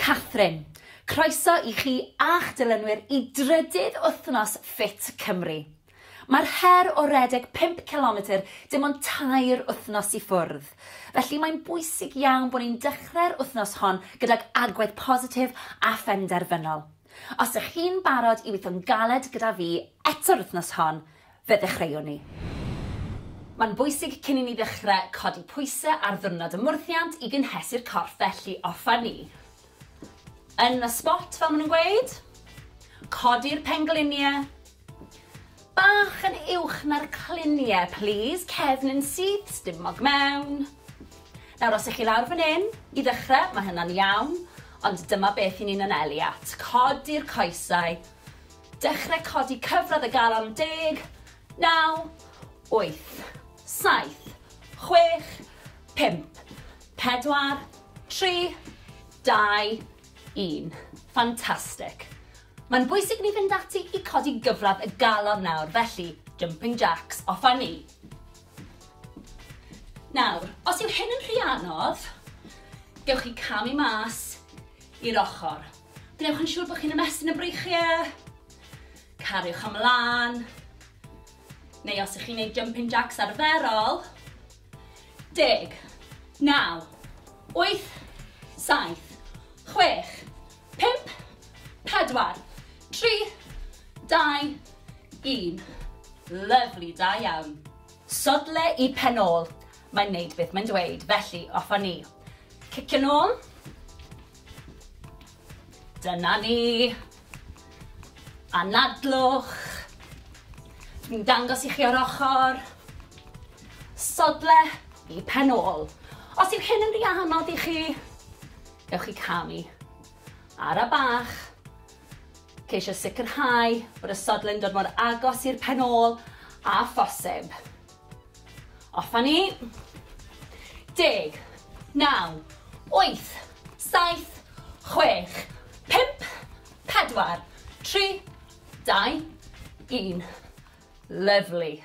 Catherine, Croeso i chi a'ch dilynwyr i drydydd wythnos Ffit Cymru. Mae'r her o redeg pump cilometr dim ond tair wythnos i ffwrdd, felly mae'n bwysig iawn bod ni'n dechrau'r wythnos hon gydag agwedd positif a phenderfynol. Os ych chi'n barod i weithio'n galed gyda fi eto'r wythnos hon, Fe ddechreuwn ni. Mae'n bwysig cyn i ni ddechrau codi pwysau ar ddiwrnod y mwrthiant i gynhesu'r corff felly offer ni yn y sbot fel maen nhw'n gweud. Codi'r pengliniau bach yn uwch na'r cliniau plîs, cefn yn syth, stumog mewn. Nawr os ych chi lawr fan hyn i ddechrau mae hynna'n iawn ond dyma beth i ni'n anelu at. Codi'r coesau. Dechrau codi cyfradd y galon deg, naw, wyth, saith, chwech, pump, pedwar, tri, dau, un. Fantastic. Mae'n bwysig ni fynd ati i codi gyfradd y galon nawr, felly jumping jacks, off a ni. Nawr, os yw hyn yn rhy anodd, gewch chi camu mas i'r ochr. Gwnewch yn siŵr bod chi'n ymestyn y breichiau. Cariwch ymlaen. Neu os ych chi'n gwneud jumping jacks arferol. Deg, naw, wyth, saith, chwech, pimp, pedwar, tri, dau, un. Lyflu, da iawn. Sodle i pen ôl. Mae'n neud beth mae'n dweud, felly off â ni. Cicio'n ôl. Dyna ni. Anadlwch. Dwi'n dangos i chi o'r ochr. Sodle i pen ôl. Os yw hyn yn rhy anodd i chi, ewch i camu. Ara bach. Ceisio sicrhau bod y sodle'n dod mor agos i'r pen ôl a phosib. Off a ni. Deg. Naw. Wyth. Saith. Chwech. Pump. Pedwar. Tri. Dau. Un. Lyfli.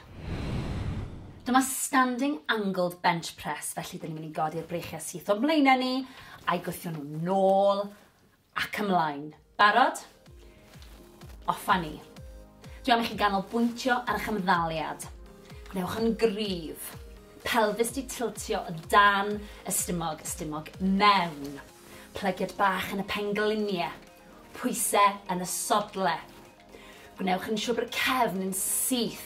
Dyma standing angled bench press, felly dyn ni'n mynd i godi'r breichiau syth o'n mlaenau ni, a'i gwthio nhw'n nôl Ac ymlaen. Barod? Off a ni. Dwi am i chi ganolbwyntio ar eich ymddaliad. Gwnewch yn gryf. Pelfis di tiltio o dan y stumog, y stumog mewn. Plygiad bach yn y penglinie. Pwyse yn y sodle. Gwnewch yn siwr bod y cefn yn syth.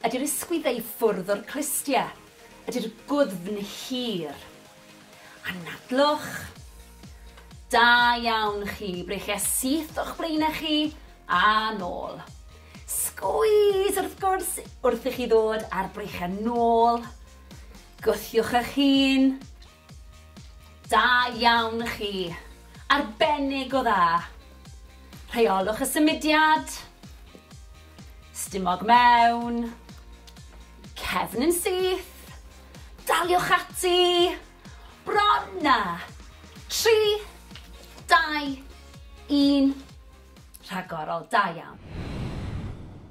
Ydy'r ysgwydd ei ffwrdd o'r clustia? Ydy'r gwddfn hir? Anadlwch. Da iawn chi, breichia syth o'ch blaenau chi a nôl. Sgwys wrth gwrs wrth i chi ddod a'r breichiau nôl. Gwthiwch eich hun. Da iawn chi. Arbennig o dda. Rheolwch y symudiad. Stumog mewn. Cefn yn syth. Daliwch ati. Bron na. 3, 2, 1. Rhagorol, da iawn.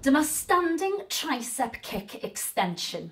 Dyma standing tricep kick extension.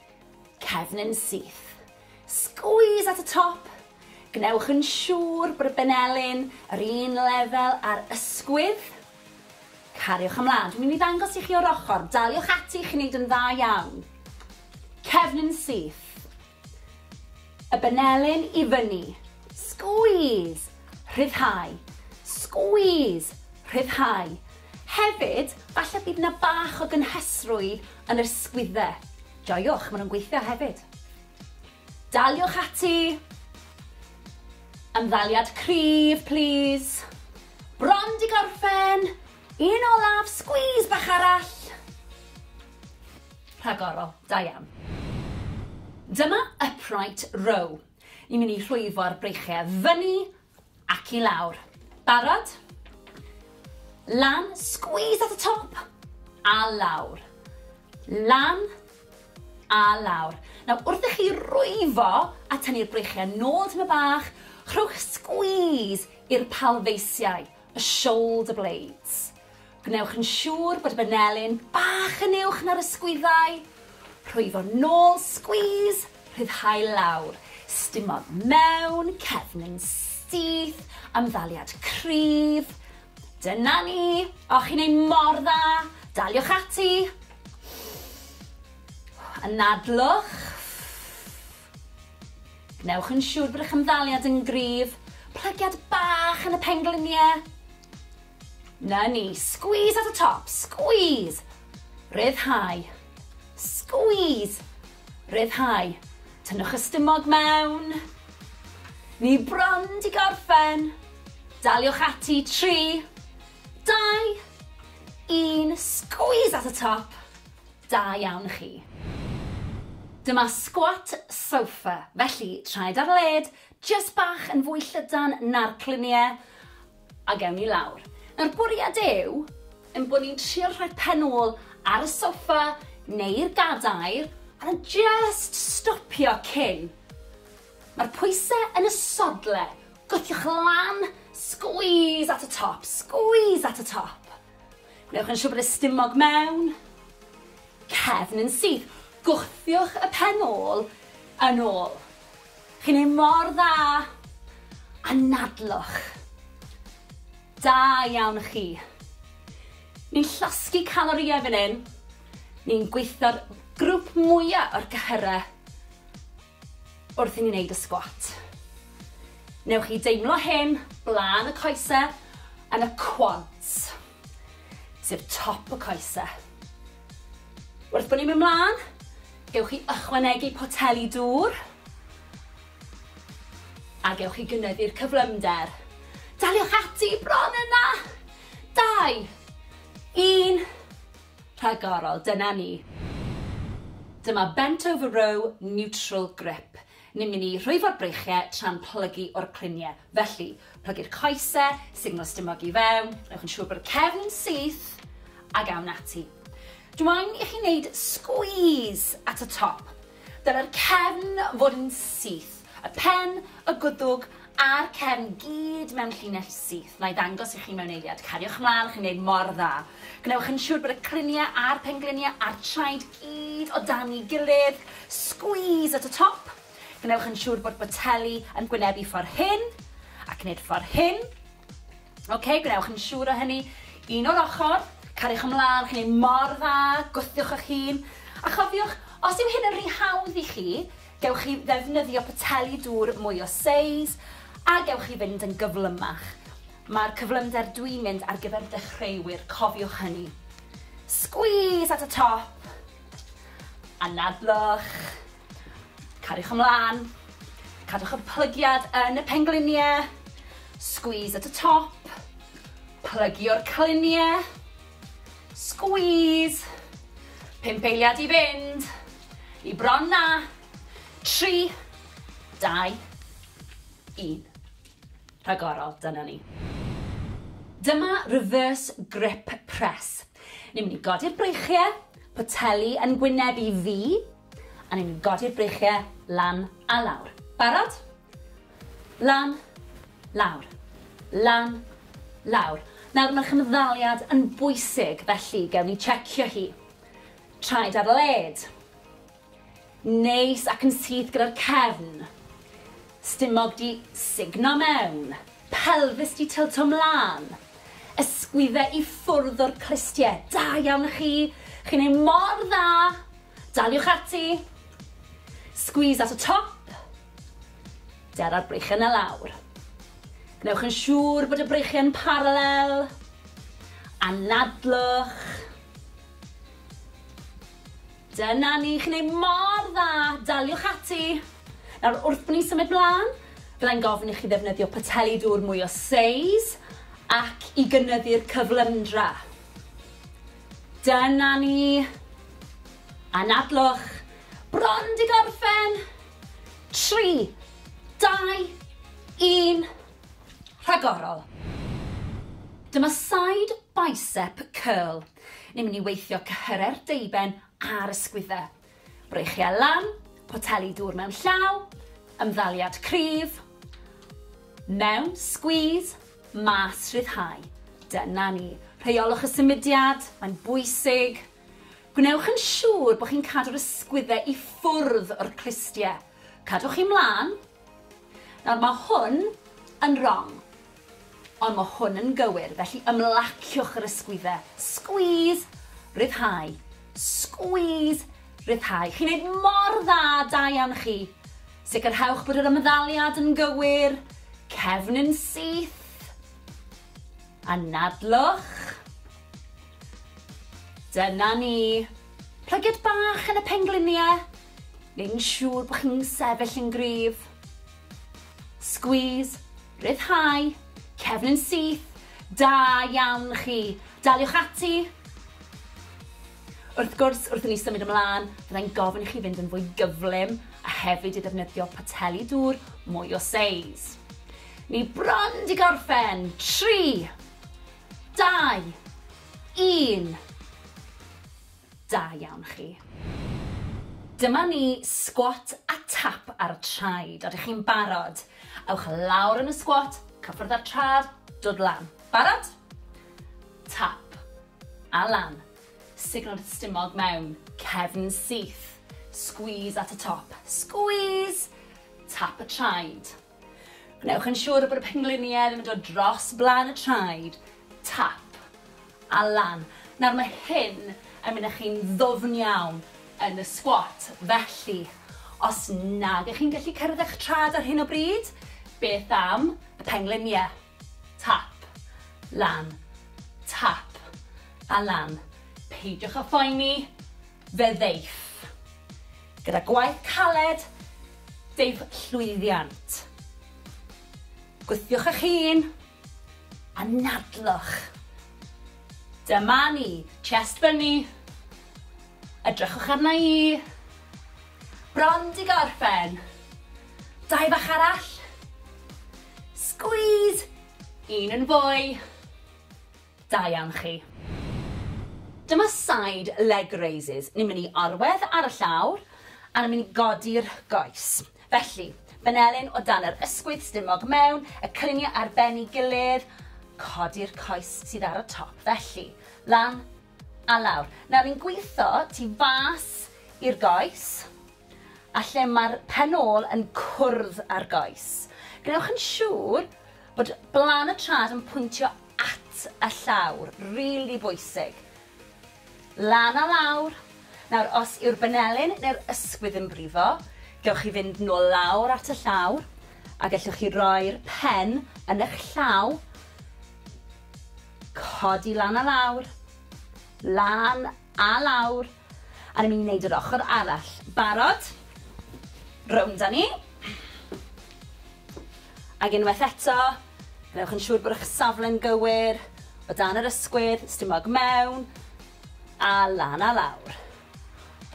Cefn yn syth. Squeeze at y top. Gwnewch yn siŵr bod y benelin yr un lefel â'r ysgwydd. Cariwch ymlaen. Dwi'n mynd i ddangos i chi o'r ochr. Daliwch ati, chi'n neud yn dda iawn. Cefn yn syth. Y benelin i fyny. Squeeze. Rhyddhau. Squeeze. Rhyddhau. Hefyd, falle bydd na bach o gynhesrwydd Yn yr sgwydde. Joiwch, maen nhw'n gweithio hefyd. Daliwch ati! Ymddaliad cryf, plis. Bron di gorffen! Un olaf, squeeze bach arall! Rhagorol, da iawn. Dyma upright row. Ni'n mynd i rhwyfo'r breichiau fyny Ac i lawr. Barod? Lan, squeeze at y top, a lawr. Lan, a lawr. Nawr, wrth i chi rwyfo a tynnu'r breichiau nôl tym y bach, rhowch squeeze i'r palfeisiau. y shoulder blades. Gwnewch yn siŵr bod y banelin bach yn uwch na'r ysgwyddau. Rhwyfo nôl, squeeze, rhyddhau lawr. Stimodd mewn, cefn yn syth, amddaliad cryf. Dyna ni! O, chi'n ei mor dda! Daliwch ati! Anadlwch. Gwnewch yn siŵr bod eich ymddaliad yn gryf. Plygiad bach yn y pengliniau. Na ni. Squeeze at y top. Squeeze. Rhyddhau. Squeeze. Rhyddhau. Tynnwch y stumog mewn. Ni bron di gorffen. Daliwch ati. 3, 2, 1. Squeeze at y top. Da iawn chi. Dyma squat sofa, felly traed ar led, jyst bach yn fwy llydan na'r clunie, a gewn ni lawr. Nawr bwriad yw ein bod ni'n trio rhoi pen ôl ar y sofa neu'r gadair a jyst stopio cyn. Mae'r pwysau yn y sodle, gwthiwch lan, squeeze at y top, squeeze at y top. Gwnewch yn siŵr bod y stumog mewn cefn yn syth. Gwthiwch y pen ôl yn ôl. Chi'n ei mor dda! Anadlwch. Da iawn chi. Ni'n llosgi calorïau fan hyn. Ni'n gweithio'r grwp mwya o'r gyhyrau. wrth i ni wneud y sgwat. Newch chi deimlo hyn blaen y coese yn y quads, sef top y coese. Wrth bod ni'n mynd mlaen, gewch chi ychwanegu poteli dŵr a gewch chi gynyddu'r cyflymder. Daliwch ati bron yna! Dau, un, Rhagorol, dyna ni. Dyma bent over row neutral grip. Ni'n mynd i rhwyfo'r breichiau tra'n plygu o'r cluniau. Felly, plygu'r coesau, signal stumog i fewn, newch yn siŵr bod y cefn yn syth, ac awn ati. Dw i'n i chi wneud squeeze at y top. Dylai'r cefn fod yn syth, y pen, y gwddwg a'r cefn gyd mewn llinell syth. Na'i ddangos i chi mewn eiliad. Cariwch mlaen, chi'n gwneud mor dda. Gwnewch yn siŵr bod y cliniau a'r pengliniau a'r traed gyd o dan ei gilydd. Squeeze at y top. Gwnewch yn siŵr bod boteli yn gwynebu ffordd hyn, ac wneud ffordd hyn. Ok, gwnewch yn siŵr o hynny. Un o'r ochr, cariwch ymlaen, chi'n ei mor dda, gwthiwch eich hun. A chofiwch, os yw hyn yn rhy hawdd i chi, gewch chi ddefnyddio poteli dŵr mwy o seis, a gewch chi fynd yn gyflymach. Mae'r cyflymder dwi'n mynd ar gyfer dechreuwyr, cofiwch hynny. Squeeze at y top, anadlwch. Cariwch ymlaen, cadwch y plygiad yn y pengliniau, squeeze at y top, plygio'r cliniau, squeeze, pump eiliad i fynd, i bron na, tri, dau, un. Rhagorol, dyna ni. Dyma reverse grip press. Ni'n mynd i godi'r breichiau, poteli yn gwyneb i fi, A ni'n godi'r breichiau lan a lawr. Barod? Lan, lawr. Lan, lawr. Nawr mae'r chymddaliad yn bwysig felly gewn ni checio hi. Traed ar led. Neis ac yn syth gyda'r cefn. Stumog 'di sugno mewn. Pelfis 'di tylto 'mlan. Ysgwydde i ffwrdd o'r clustie. Da iawn i chi! Chi'n neud mor dda! Daliwch ati! Squeeze at y top. Dera'r breichiau 'na lawr. Gwnewch yn siŵr bod y breichiau'n paralel. Anadlwch. Dyna ni, chi'n neud mor dda! Daliwch ati! Nawr, wrth ni symud mlan, byddai'n gofyn i chi ddefnyddio poteli dŵr mwy o seis ac i gynyddu'r cyflymdra. Dyna ni! Anadlwch! Bron 'di gorffen! Tri, dau, un, rhagorol! Dyma side bicep curl. Ni'n mynd i weithio cyhyrer deuben a'r ysgwyddau. Breichiau lan, poteli dŵr mewn llaw, ymddaliad cryf, mewn, squeeze, mas, rhyddhau. Dyna ni. Rheolwch y symudiad, mae'n bwysig. Gwnewch yn siŵr bod chi'n cadw'r ysgwyddau i ffwrdd o'r clustiau. Cadwch chi mlaen, Nawr mae hwn yn rong, ond mae hwn yn gywir, felly ymlaciwch yr ysgwyddau. Squeeze, rhyddhau, squeeze, rhyddhau. Chi'n neud mor dda, da iawn chi. Sicrhewch bod yr ymddaliad yn gywir, cefn yn syth. Anadlwch. Dyna ni. Plygiad bach yn y pengliniau. neu'n siŵr bod chi'n sefyll yn gryf. Squeeze, rhyddhau, cefn yn syth, da iawn chi. Daliwch ati. Wrth gwrs, wrth i ni symud ymlaen, byddai'n gofyn i chi fynd yn fwy gyflym a hefyd i ddefnyddio poteli dŵr mwy o seis. Ni bron di gorffen. 3, 2, 1. Da iawn chi. Dyma ni, sgwat a tap ar y traed. Odych chi'n barod? Ewch lawr yn y sgwat, cyffwrdd â'r trad, dod lan. Barod? Tap. A lan. Signo'r stumog mewn. Cefn syth. Squeeze at y top. Squeeze! Tap y traed. Gwnewch yn siŵr bod y pengliniau ddim yn dod dros blaen y traed, tap, a lan. Nawr mae hyn yn mynd â chi'n ddwfn iawn yn y squat, felly os nag ych chi'n gallu cyrraedd eich traed ar hyn o bryd, beth am y pengliniau? Tap. Lan. Tap. A lan. Peidiwch â phoeni, fe ddeiff. Gyda gwaith caled, deiff llwyddiant. Gwthiwch eich hun, a nadlwch. Dyma ni. Chest fyny. Edrychwch arna i. Bron di gorffen. Dau bach arall. Squeeze! Un yn fwy. Da iawn chi. Dyma side leg raises. Ni'n mynd i orwedd ar y llawr a ni'n mynd i godi'r goes. Felly, benelin o dan yr ysgwydd, stumog mewn, y cyniau ar ben ei gilydd, codi'r coes sydd ar y top. Felly, lan, A lawr. Nawr ni'n gwitho tu fas i'r goes a lle mae'r pen ôl yn cwrdd â'r goes. Gwnewch yn siŵr bod blaen y trad yn pwyntio at y llawr, rili bwysig. Lan a lawr. Nawr, os yw'r benelin neu'r ysgwydd yn brifo, gewch chi fynd nôl lawr at y llawr a gellwch chi roi'r pen yn eich llaw Codi lan a lawr. Lan a lawr. A ni'n mynd i wneud yr ochr arall. Barod? Rownd a ni. Ac unwaith eto, gwnewch yn siŵr bod eich safle'n gywir, o dan yr ysgwydd, stumog mewn, a lan a lawr.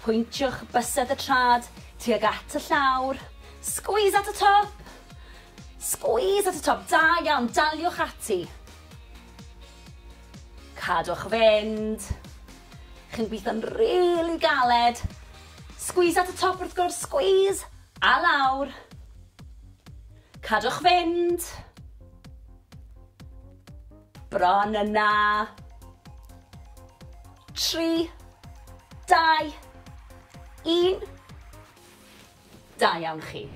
Pwyntiwch bysedd y trad tuag at y llawr. Squeeze at y top! Squeeze at y top, da iawn, daliwch ati. Cadwch fynd. Chi'n gweithio'n really galed. Squeeze at y top wrth gwrs, squeeze! A lawr. Cadwch fynd. Bron yna. Tri, dau, un. Da iawn chi.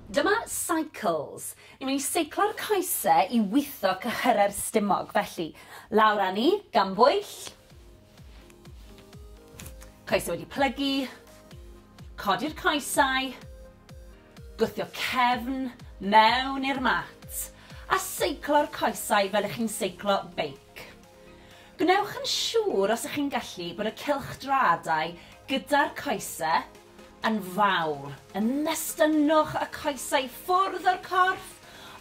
Dyma Cycles. Dw i'n seiclo'r coese i witho cyhyrau'r stumog, felly, lawr â ni, gan bwyll. Coesau wedi plygu. Codi'r coesau. Gwthio cefn mewn i'r mat. A seiclo'r coesau fel ych chi'n seiclo beic. Gwnewch yn siŵr os ych chi'n gallu bod y cylchdraadau gyda'r coese yn fawr, yn nestynnwch y coesau i ffwrdd o'r corff,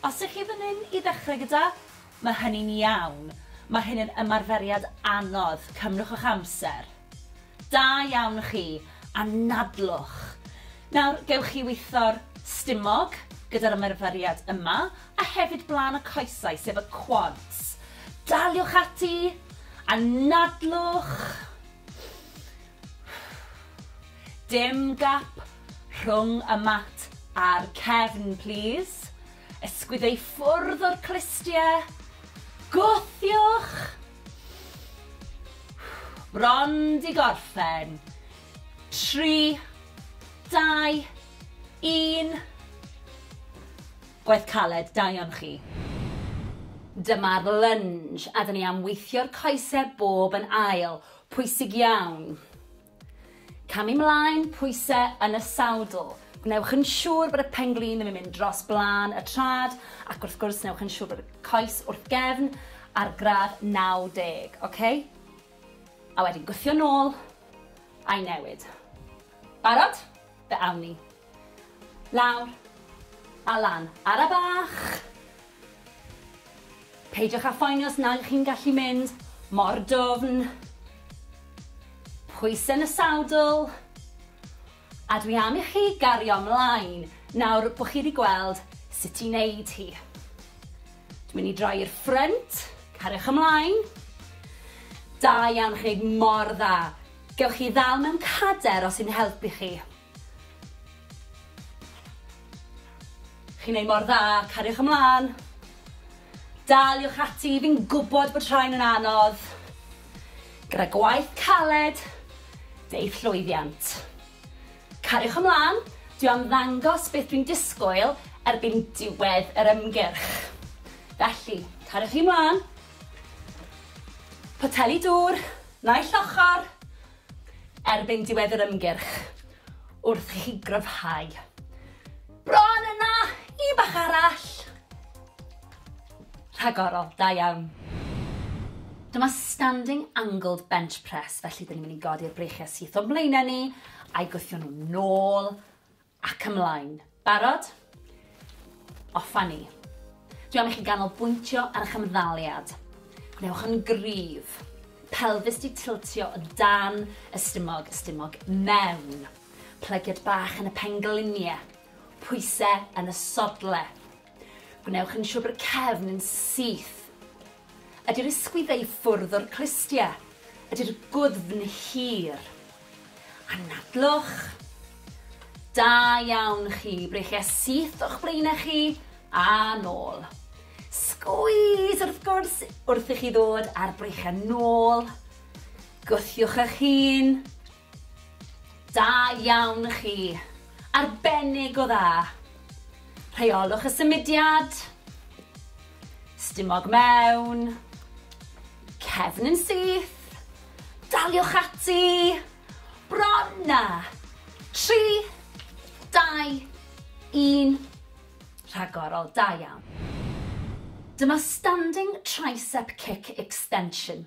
os ych chi fan hyn i ddechrau gyda, mae hynny'n iawn, mae hyn yn ymarferiad anodd, cymrwch eich amser. Da iawn chi, anadlwch. Nawr, gewch chi witho'r stumog gyda'r ymarferiad yma, a hefyd blaen y coesau, sef y quads. Daliwch ati! Anadlwch! Dim gap rhwng y mat a'r cefn, plis. Ysgwyddo i ffwrdd o'r clustie. Gwthiwch! Bron 'di gorffen. Tri, dau, un. Gwaith caled, da iawn chi. Dyma'r lunge a 'da ni am weithio'r coesau bob yn ail. Pwysig iawn. Camu 'mlaen, pwyse yn y sawdl. Gwnewch yn siŵr bod y pen-glin ddim yn mynd dros blaen y trad, ac wrth gwrs newch yn siŵr bod y coes wrth gefn ar gradd 90, oce? A wedyn gwthio nôl, a'i newid. Barod? Fe awn ni. Lawr. A lan. Ara bach! Peidiwch â phoeni os nag ych chi'n gallu mynd mor dwfn. Pwysau yn y sawdl. A dwi am i chi gario mlaen nawr bod chi wedi gweld sut i wneud hi. Dwi'n mynd i droi i'r ffrynt. Cariwch ymlaen. Da iawn, chi'n gwneud mor dda. Gewch chi ddal mewn cader os sy'n helpu chi. Chi'n neud mor dda, cariwch ymlan. Daliwch ati, fi'n gwbod bod rhain yn anodd. Gyda gwaith caled, deu'th llwyddiant. Cariwch ymlan, dwi am ddangos beth dwi'n disgwyl erbyn diwedd yr ymgyrch. Felly, cariwch chi mlan. Poteli dŵr, naill ochr. erbyn diwedd yr ymgyrch wrth i chi gryfhau. Bron yna! Un bach arall! Rhagorol, da iawn. Dyma standing angled bench press, felly dyn ni'n mynd i godi'r breichiau syth o'n mlaenau ni, a'i gwthio nhw'n nôl, Ac ymlaen. Barod? Off a ni. Dwi am i chi ganolbwyntio ar eich ymddaliad. Gwnewch yn gryf. Pelfis di tiltio o dan y stumog, y stumog mewn. Plygiad bach yn y penglinie. Pwyse yn y sodle. Gwnewch yn siwr bod y cefn yn syth. Ydy'r ysgwyddau i ffwrdd o'r clustiau. Ydy'r gwddfn hir. Anadlwch. Da iawn chi. Breichiau syth o'ch blaenau chi a nôl. Sgwys wrth gwrs wrth i chi ddod a'r breichiau nôl. Gwthiwch eich hun. Da iawn chi! Arbennig o dda! Rheolwch y symudiad. Stumog mewn. Cefn yn syth. Daliwch ati. Bron na! 3, 2, 1. Rhagorol, da iawn. Dyma Standing Tricep Kick Extension.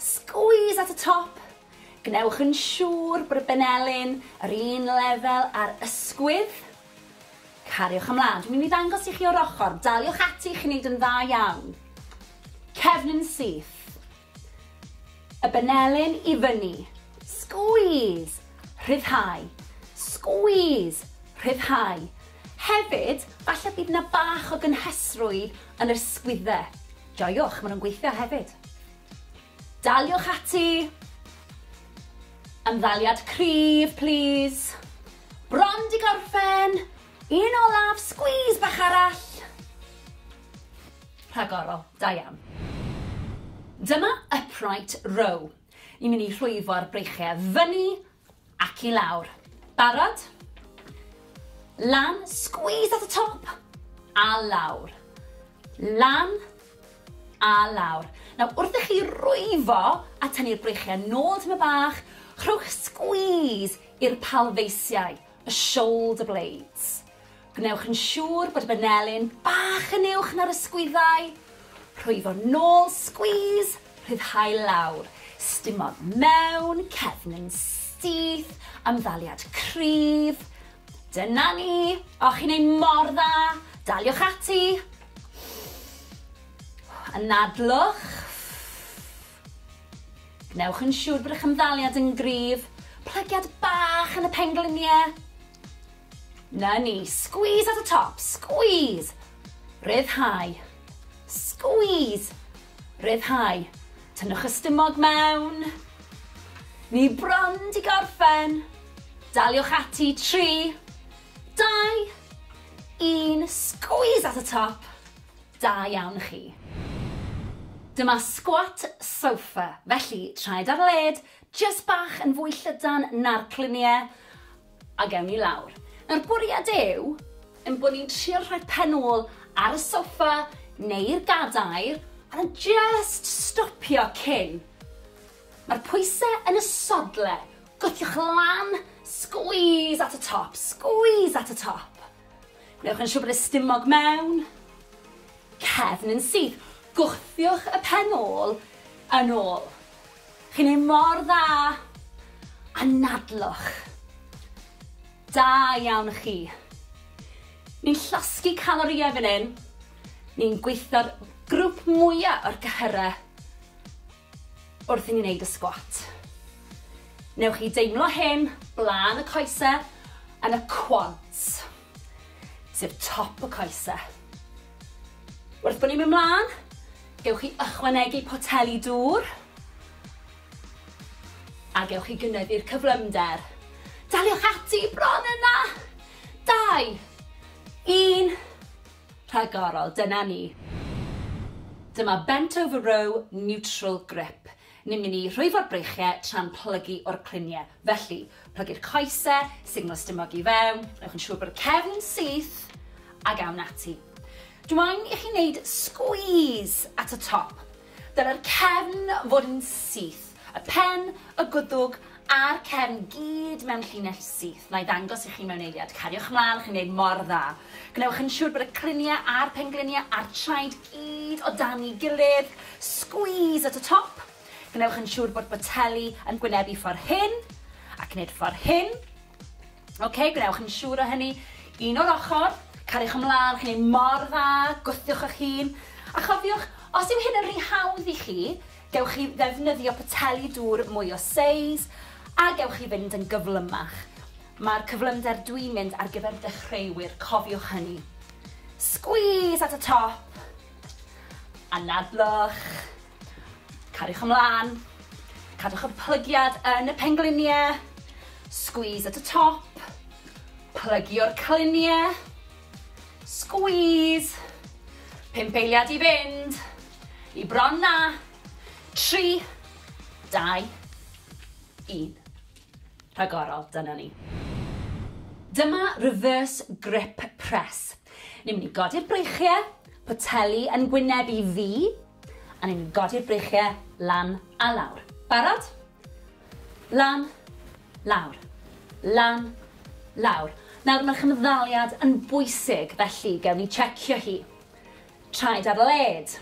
Squeeze at y top. Gwnewch yn siŵr bod y benelin yr un lefel â'r ysgwydd. Cariwch ymlaen. Dwi'n mynd i ddangos i chi o'r ochr. Daliwch ati, chi'n neud yn dda iawn. Cefn yn syth. Y benelin i fyny. Squeeze. Rhyddhau. Squeeze. Rhyddhau. Hefyd, falle bydd 'na bach o gynhesrwydd yn yr sgwydde. Joiwch, maen nhw'n gweithio hefyd. Daliwch ati! Ymddaliad cryf, plis. Bron di gorffen! Un olaf, sgwîs bach arall! Rhagorol, da iawn. Dyma upright row. Ni'n mynd i rhwyfo'r breichiau fyny Ac i lawr. Barod? Lan, squeeze at y top, a lawr. Lan, a lawr. Nawr, wrth i chi rwyfo a tynnu'r breichiau nôl tyma bach, rhowch squeeze i'r palfeisiau. y shoulder blades. Gwnewch yn siŵr bod y banelin bach yn uwch na'r ysgwyddau. Rhwyfo nôl, squeeze, rhyddhau lawr. Stumog mewn, cefn yn syth, amddaliad cryf. Dyna ni! O, chi'n ei mor dda! Daliwch ati! Anadlwch. Gwnewch yn siŵr bod eich ymddaliad yn gryf. Plygiad bach yn y pengliniau. Na ni. Squeeze at y top. Squeeze. Rhyddhau. Squeeze. Rhyddhau. Tynnwch y stumog mewn. Ni bron di gorffen. Daliwch ati. 3, 2, 1. Squeeze at y top. Da iawn chi. Dyma squat sofa, felly traed ar led, jyst bach yn fwy llydan na'r clunie, a gewn ni lawr. Nawr bwriad yw ein bod ni'n trio rhoi pen ôl ar y sofa neu'r gadair a jyst stopio cyn. Mae'r pwysau yn y sodle, gwthiwch lan, squeeze at y top, squeeze at y top. Gwnewch yn siŵr bod y stumog mewn cefn yn syth. Gwthiwch y pen ôl yn ôl. Chi'n ei mor dda! Anadlwch. Da iawn chi. Ni'n llosgi calorïau fan hyn. Ni'n gweithio'r grwp mwya o'r gyhyrau. Wrth i ni wneud y sgwat, newch chi deimlo hyn blaen y coese yn y quads, sef top y coese. Wrth bod ni'n mynd mlaen, gewch chi ychwanegu poteli dŵr a gewch chi gynyddu'r cyflymder. Daliwch ati, bron yna! Dau, un, Rhagorol, dyna ni. Dyma bent over row neutral grip. Ni'n mynd i rhwyfo'r breichiau tra'n plygu o'r cluniau. Felly, plygu'r coesau, signal stumog i fewn, newch yn siŵr bod y cefn yn syth, ac awn ati. Dw i'n i chi wneud squeeze at y top. Dylai'r cefn fod yn syth, y pen, y gwddwg a'r cefn gyd mewn llinell syth. Wna i ddangos i chi mewn eiliad. Cariwch ymlaen, chi'n gwneud mor dda. Gwnewch yn siŵr bod y criniau a'r pengliniau a'r traed gyd o dan ei gilydd. Squeeze at y top. Gwnewch yn siŵr bod boteli yn gwynebu ffordd hyn, ac wneud ffordd hyn. Ok, gwnewch yn siŵr o hynny. Un o'r ochr, cariwch ymlaen, chi'n ei mor dda, gwthiwch eich hun. A chofiwch, os yw hyn yn rhy hawdd i chi, gewch chi ddefnyddio poteli dŵr mwy o seis, a gewch chi fynd yn gyflymach. Mae'r cyflymder dwi'n mynd ar gyfer dechreuwyr, cofiwch hynny. Squeeze at y top, anadlwch. Cariwch ymlaen. Cadwch y plygiad yn y pengliniau. Squeeze at y top. Plygio'r cliniau. Squeeze. Pump eiliad i fynd. I bron na. Tri. Dau. Un. Rhagorol, dyna ni. Dyma reverse grip press. Ni'n mynd i godi'r breichiau, poteli yn gwyneb i fi, A ni'n godi'r breichiau lan a lawr. Barod? Lan, lawr. Lan, lawr. Nawr mae'r chymddaliad yn bwysig felly gewn ni checio hi. Traed ar led.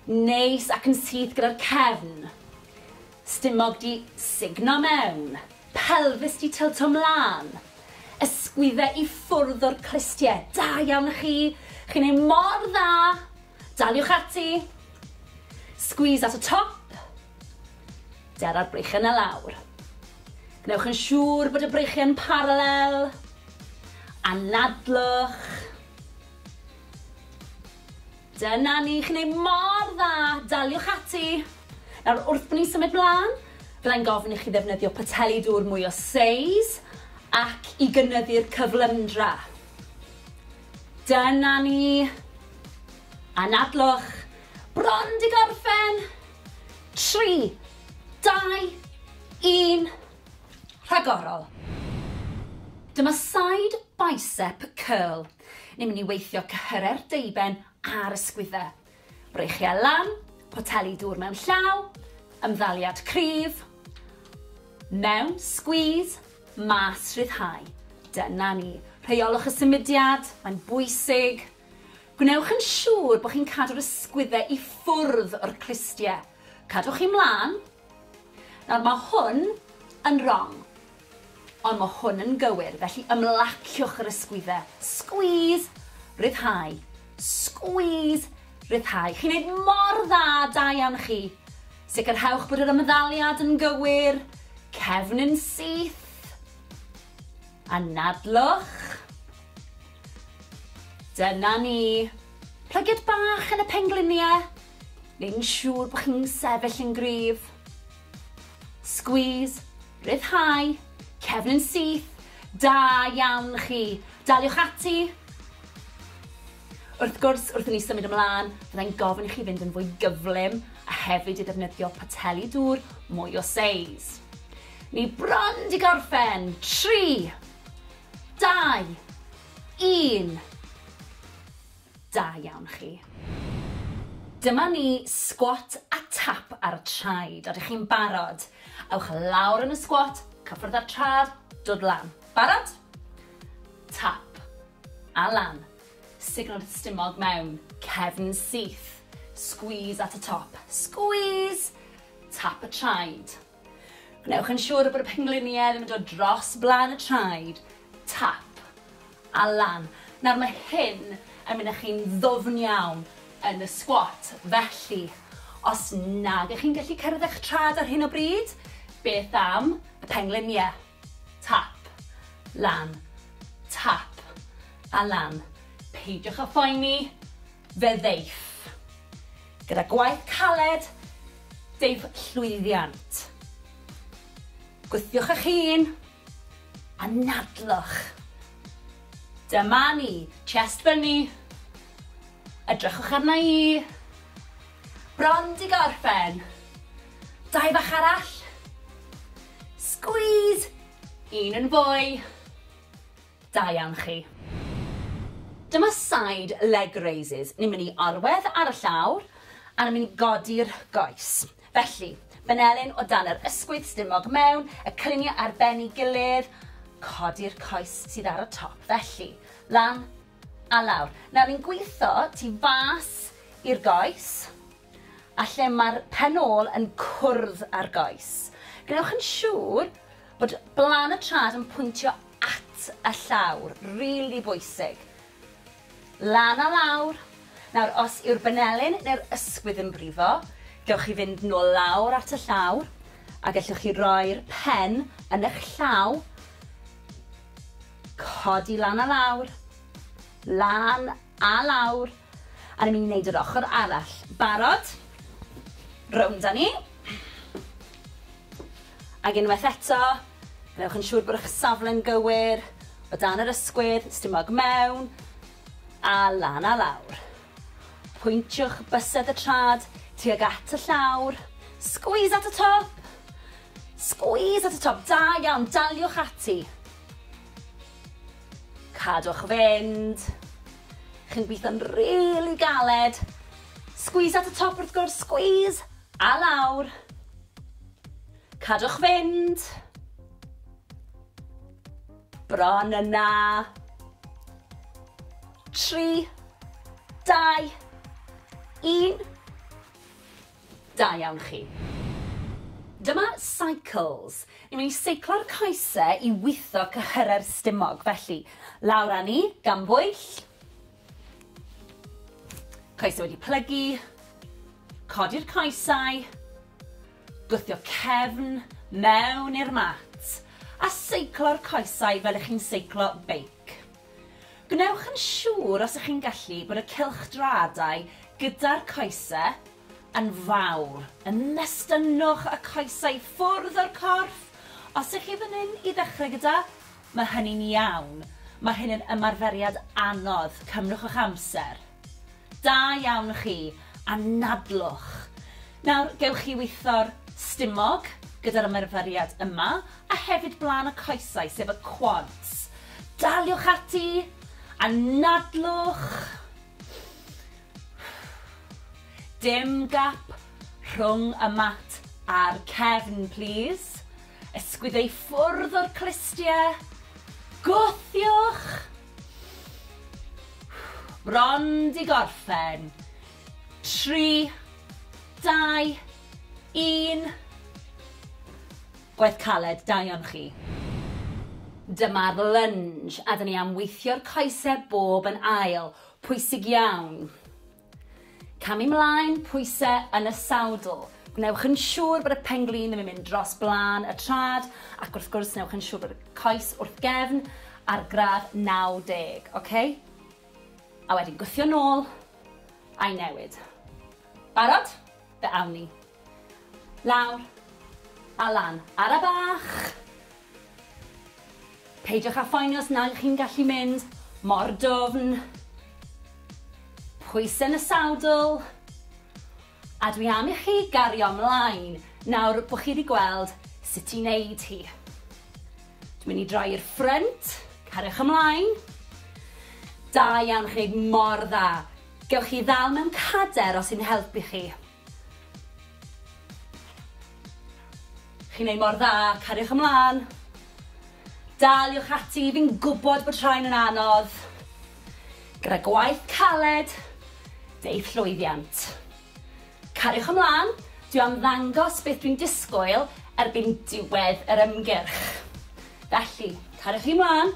Neis ac yn syth gyda'r cefn. Stumog 'di sugno mewn. Pelfis 'di tylto 'mlan. Ysgwydde i ffwrdd o'r clustie. Da iawn i chi! Chi'n neud mor dda! Daliwch ati! Squeeze at y top. Dera'r breichiau 'na lawr. Gwnewch yn siŵr bod y breichiau'n paralel. Anadlwch. Dyna ni, chi'n neud mor dda, daliwch ati! Nawr, wrth bo ni'n symud mlan, byddai'n gofyn i chi ddefnyddio poteli dŵr mwy o seis ac i gynyddu'r cyflymdra. Dyna ni! Anadlwch! Bron 'di gorffen! Tri, dau, un, rhagorol! Dyma side bicep curl. Ni'n mynd i weithio cyhyrer deuben a'r ysgwyddau. Breichiau lan, poteli dŵr mewn llaw, ymddaliad cryf, mewn, squeeze, mas, rhyddhau. Dyna ni. Rheolwch y symudiad, mae'n bwysig. Gwnewch yn siŵr bod chi'n cadw'r ysgwyddau i ffwrdd o'r clustiau. Cadwch chi mlaen, Nawr, mae hwn yn rong, ond mae hwn yn gywir, felly ymlaciwch yr ysgwydde. Squeeze, rhyddhau, squeeze, rhyddhau. Chi'n neud mor dda, da iawn chi. Sicrhewch bod yr ymddaliad yn gywir, cefn yn syth. Anadlwch. Dyna ni. Plygiad bach yn y pengliniau. neu'n siŵr bod chi'n sefyll yn gryf. Squeeze, rhyddhau, cefn yn syth, da iawn chi. Daliwch ati. Wrth gwrs, wrth i ni symud ymlaen, byddai'n gofyn i chi fynd yn fwy gyflym a hefyd i ddefnyddio poteli dŵr mwy o seis. Ni bron di gorffen. 3, 2, 1. Da iawn chi. Dyma ni, sgwat a tap ar y traed. Odych chi'n barod? Ewch lawr yn y sgwat, cyffwrdd â'r trad, dod lan. Barod? Tap. A lan. Signo'r stumog mewn. Cefn syth. Squeeze at y top. Squeeze! Tap y traed. Gwnewch yn siŵr bod y pengliniau ddim yn dod dros blaen y traed, tap, a lan. Nawr mae hyn yn mynd â chi'n ddwfn iawn yn y squat, felly os nag ych chi'n gallu cyrraedd eich traed ar hyn o bryd, beth am y pengliniau? Tap. Lan. Tap. A lan. Peidiwch â phoeni, fe ddeiff. Gyda gwaith caled, deiff llwyddiant. Gwthiwch eich hun. Anadlwch. Dyma ni. Chest fyny. Edrychwch arna i. Bron di gorffen. Dau bach arall. Squeeze! Un yn fwy. Da iawn chi. Dyma side leg raises. Ni'n mynd i orwedd ar y llawr a ni'n mynd i godi'r goes. Felly, benelin o dan yr ysgwydd, stumog mewn, y cyniau ar ben ei gilydd, codi'r coes sydd ar y top. Felly, lan, A lawr. Nawr ni'n gwitho tu fas i'r goes a lle mae'r pen ôl yn cwrdd â'r goes. Gwnewch yn siŵr bod blaen y trad yn pwyntio at y llawr, rili bwysig. Lan a lawr. Nawr, os yw'r benelin neu'r ysgwydd yn brifo, gewch chi fynd nôl lawr at y llawr a gellwch chi roi'r pen yn eich llaw Codi lan a lawr. Lan a lawr. A ni'n mynd i wneud yr ochr arall. Barod? Rownd a ni. Ac unwaith eto, gwnewch yn siŵr bod eich safle'n gywir, o dan yr ysgwydd, stumog mewn, a lan a lawr. Pwyntiwch bysedd y trad tuag at y llawr. Squeeze at y top! Squeeze at y top, da iawn, daliwch ati. Cadwch fynd. Chi'n gweithio'n really galed. Squeeze at y top wrth gwrs, squeeze! A lawr. Cadwch fynd. Bron yna. Tri, dau, un. Da iawn chi. Dyma Cycles. Ni'n mynd i seiclo'r coese i witho cyhyrau'r stumog. Felly, lawr â ni, gan bwyll. Coesau wedi plygu. Codi'r coesau. Gwthio cefn mewn i'r mat. A seiclo'r coesau fel ych chi'n seiclo beic. Gwnewch yn siŵr os ych chi'n gallu bod y cylchdraadau gyda'r coese yn fawr, yn nestynnwch y coesau i ffwrdd o'r corff, os ych chi fan hyn i ddechrau gyda, mae hynny'n iawn, mae hyn yn ymarferiad anodd, cymrwch eich amser. Da iawn chi, anadlwch. Nawr, gewch chi witho'r stumog gyda'r ymarferiad yma, a hefyd blaen y coesau, sef y quads. Daliwch ati! Anadlwch! Dim gap rhwng y mat a'r cefn, plis. Ysgwydde i ffwrdd o'r clustie. Gwthiwch! Bron 'di gorffen. Tri, dau, un. Gwaith caled, da iawn chi. Dyma'r lunge a 'dyn ni am weithio'r coesau bob yn ail. Pwysig iawn. Camu 'mlaen, pwyse yn y sawdl. Gwnewch yn siŵr bod y pen-glin ddim yn mynd dros blaen y trad, ac wrth gwrs newch yn siŵr bod y coes wrth gefn ar gradd 90, oce? A wedyn gwthio nôl, a'i newid. Barod? Fe awn ni. Lawr. A lan. Ara bach! Peidiwch â phoeni os nag ych chi'n gallu mynd mor dwfn. Pwysau yn y sadl. A dwi am i chi gario mlaen nawr bod chi wedi gweld sut i wneud hi. Dwi'n mynd i droi i'r ffrynt. Cariwch ymlaen. Da iawn, chi'n gwneud mor dda. Gewch chi ddal mewn cader os sy'n helpu chi. Chi'n neud mor dda, cariwch ymlan. Daliwch ati, fi'n gwbod bod rhain yn anodd. Gyda gwaith caled, deu'th llwyddiant. Cariwch ymlan, dwi am ddangos beth dwi'n disgwyl erbyn diwedd yr ymgyrch. Felly, cariwch chi mlan.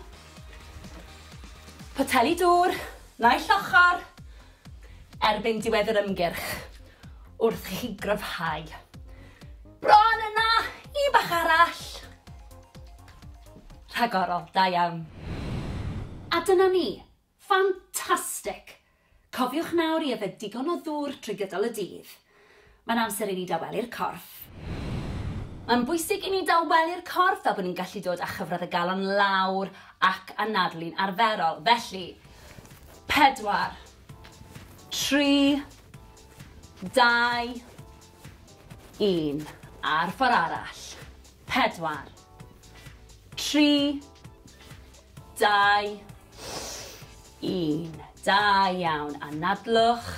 Poteli dŵr, naill ochr. erbyn diwedd yr ymgyrch wrth i chi gryfhau. Bron yna! Un bach arall! Rhagorol, da iawn. A dyna ni. Ffantastig! Cofiwch nawr i yfed digon o ddŵr trwy gydol y dydd. Mae'n amser i ni dawelu'r corff. Mae'n bwysig i ni dawelu'r corff fel bod ni'n gallu dod â chyfradd y galon lawr ac anadlu'n arferol. Felly, pedwar, tri, dau, un. A'r ffordd arall. Pedwar, tri, dau, un. Da iawn. Anadlwch.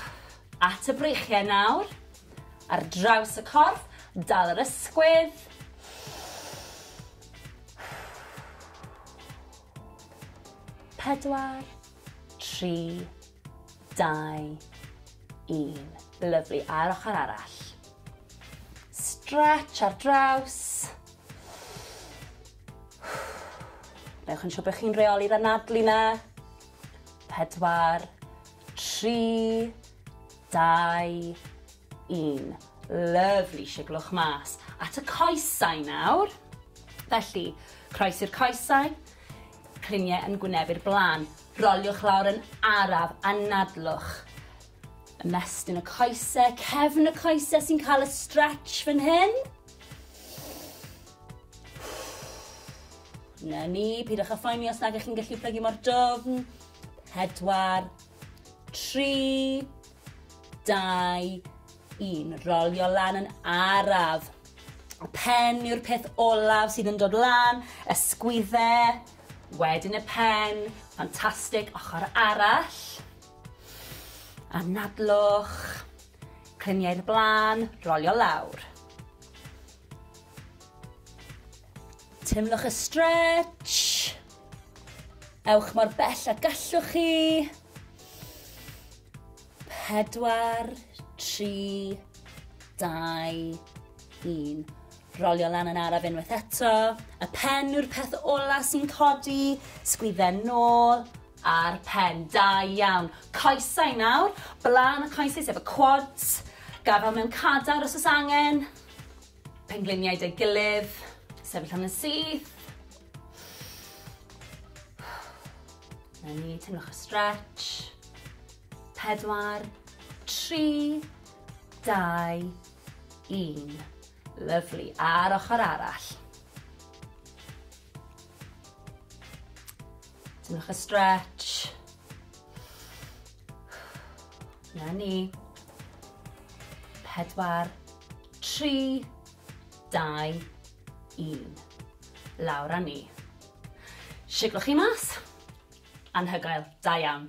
At y breichiau nawr. Ar draws y corff, dal yr ysgwydd. Pedwar, tri, dau, un. Lyflu, a'r ochr arall. Stretch ar draws. Newch yn siŵr bod chi'n reoli'r anadlu na. 4, 3, 2, 1. Lyfli, siglwch mas. At y coesau nawr. Felly, croes i'r coesau, criniau yn gwyneb i'r blaen. Roliwch lawr yn araf, anadlwch. Ymestyn y coesau, cefn y coesau sy'n cael y stretch fan hyn. Na ni, pidwch â phoeni os nag ych chi'n gallu plygu mor dofn. Pedwar, tri, dau, un. Rolio lan yn araf. Y pen yw'r peth olaf sydd yn dod lan, ysgwydde, wedyn y pen, ffantastig, ochr arall. Anadlwch, cliniau'r blaen, rolio lawr. Teimlwch y stretch. Ewch mor bell a gallwch chi. Pedwar, tri, dau, un. Rolio lan yn araf unwaith eto. Y pen yw'r peth ola sy'n codi. Sgwydden nôl a'r pen. Da iawn. Coesau nawr. Blaen y coesau sef y quads. Gafel mewn cadar os oes angen. Pengliniau 'da'i gilydd. Sefyll am yn syth. Na ni, teimlwch y stretch. Pedwar, tri, dau, un. Lyflu. A'r ochr arall. Teimlwch y stretch. Na ni. Pedwar, tri, dau, un. Lawr a ni. Siglwch chi mas. Anhygoel. Da iawn.